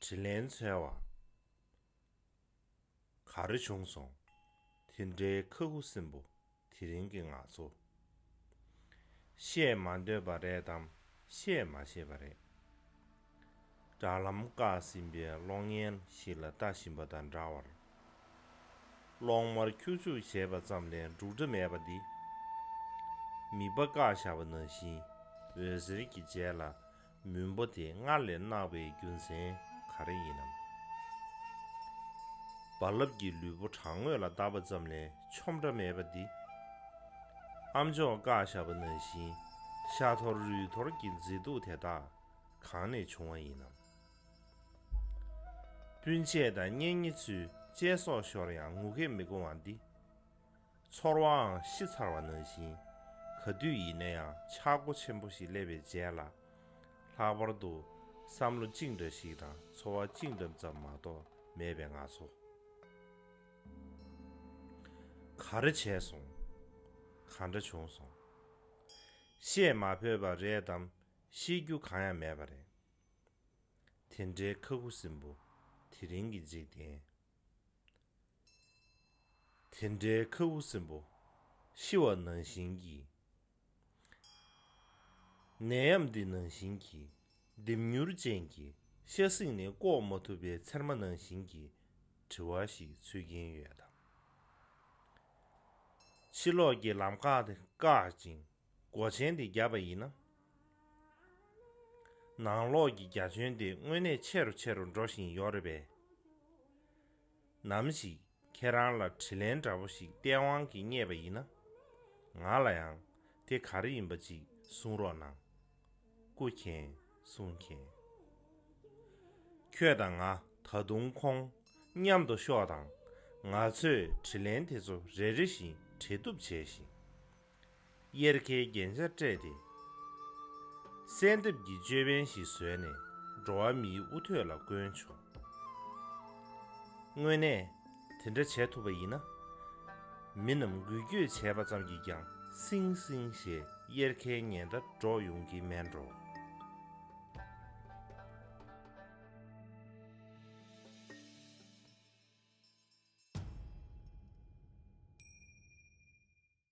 དྲིན་ལན་འཚལ་བ། ག་རེ་བྱུང་སོང། དེ་འདྲའི་ཁ་ཁུ་སིམ་པོ་དེ་རིང་གི་ང་ཚོ། བཤད་མ་འདོད་པ་རེད་དམ་བཤད་མ་ཤེས་པ་རེད། དྲ་ལམ་བཀག་ཟིན་པའི་གློག་བརྙན་ཞིག་ལ་ལྟ་བཞིན་པ་དང་འདྲ་བར། གློག་དམར་ཁྱུག་ཁྱུག་བྱས་པ་ཙམ་ལས་འབྲུག་སྒྲ་མེད་པ་འདི། མིག་པ་བཀག་བཞག་པ་ནང་བཞིན་འོད་ཟེར་གྱི་རྗེས་ལ་མུན་པོ་དེ་སྔར་ལས་བརྣག་པའི་རྒྱུ་མཚན་ག་རེ་ཡིན་ནམ། རྦ་རླབས་ཀྱི་ལུས་པོ་བྲང་ངོས་ལ་བརྡབས་པ་ཙམ་ལས་ཆོམ་སྒྲ་མེད་པ་འདི། ཨ་མཆོག་བཀག་བཞག་པ་ནང་བཞིན་ཤ་ཐོར་རུས་ཐོར་གྱི་མཛེས་སྡུག་དེ་དག་གང་ནས་བྱུང་བ་ཡིན་ནམ། སྤུན་མཆེད་དང་གཉེན་ཉེ་ཚུལ་དཔྱད་སོགས་ཤོར་ཡང་ངུ་སྐད་མི་གོ་བ་འདི། ཚོར་བའང་ཤི་ཚར་བ་ན་བཞིན་ག་དུས་ཡིན་ན་ཡང་ཆག་སྒོ་ཆེན་པོ་ཞིག་སླེབས་པའི་རྗེས་ལ། ལྷག་པར་དུ་བསམ་བློ་གཅིག་འདྲ་ཞིག་དང་ཚོར་བ་གཅིག་འདྲ་ཙམ་མ་གཏོགས་མེད་པའི་ང་ཚོ། ག་རེ་བྱས་སོང། ག་འདྲ་བྱུང་སོང། བཤད་མ་ཕོད་པ་རེད་དམ་ཤེས་རྒྱུ་གང་ཡང་མེད་པ་རེད། དེ་འདྲའི་མཁའ་དགུ་སྲིན་པོ་དེ་རིང་གི་འཇིག་རྟེན། དེ་འདྲའི་མཁའ་དགུ་སྲིན་པོ་ཤི་བ་ནང་བཞིན་གྱི། ནད་ཡམས་འདི་ནང་བཞིན་གྱི་ལྡེམ་མྱུར་ཅན་གྱི་ཤ་གསེང་ནས་བཀོག་མ་ཐུབ་པའི་ཚེར་མ་ནང་བཞིན་གྱི་དྲི་བ་ཞིག་འཚོལ་གྱིན་ཡོད་དམ། ཕྱི་ལོགས་ཀྱི་ལམ་ཁ་དེ་བཀག་ཅིང། སྒོ་ཆེན་དེ་བརྒྱབ་པ་ཡིན་ན། ནང་ལོགས་ཀྱི་རྒྱ་ཁྱོན་དེ་དངོས་གནས་ཆེ་རུ་ཆེ་རུ་འགྲོ་བཞིན་ཡོད་རེད་པས། ནམ་ཞིག་ཁྱེད་རང་ལ་དྲི་ལན་འདྲ་པོ་ཞིག་སྟེས་དབང་གིས་རྙེད་པ་ཡིན་ན། ང་ལ་ཡང་དེ་ག་རེ་ཡིན་པ་ཅིག་གསུང་རོགས་གནང། སྐུ་མཁྱེན་གསུང་མཁྱེན། ཁྱོད་དང་ང་ད་དུང་ཁོང་མཉམ་དུ་ཤོག་དང་ང་ཚོས་དྲི་ལན་དེ་ཚོ་རེ་རེ་བཞིན་དྲི་བཏུབ་བྱས་ཤིང། གཡེར་ཁའི་རྒྱན་ཆ་སྤྲས་ཏེ། གསལ་འདེབས་ཀྱི་ཅོད་པན་ཞིག་བཟོས་ནས་འགྲོ་བ་མིའི་དབུ་ཐོད་ལ་བསྐོན་བྱུང། དངོས་གནས་དེ་འདྲ་བྱས་ཐུབ་པ་ཡིན་ན། མི་རྣམས་འགུལ་སྐྱོད་བྱས་པ་ཙམ་གྱིས་ཀྱང་སིང་སིང་ཞེས་གཡེར་ཁའི་ཉལ་ཟླ་སྒྲོག་ཡོང་གི་མེད་འགྲོ།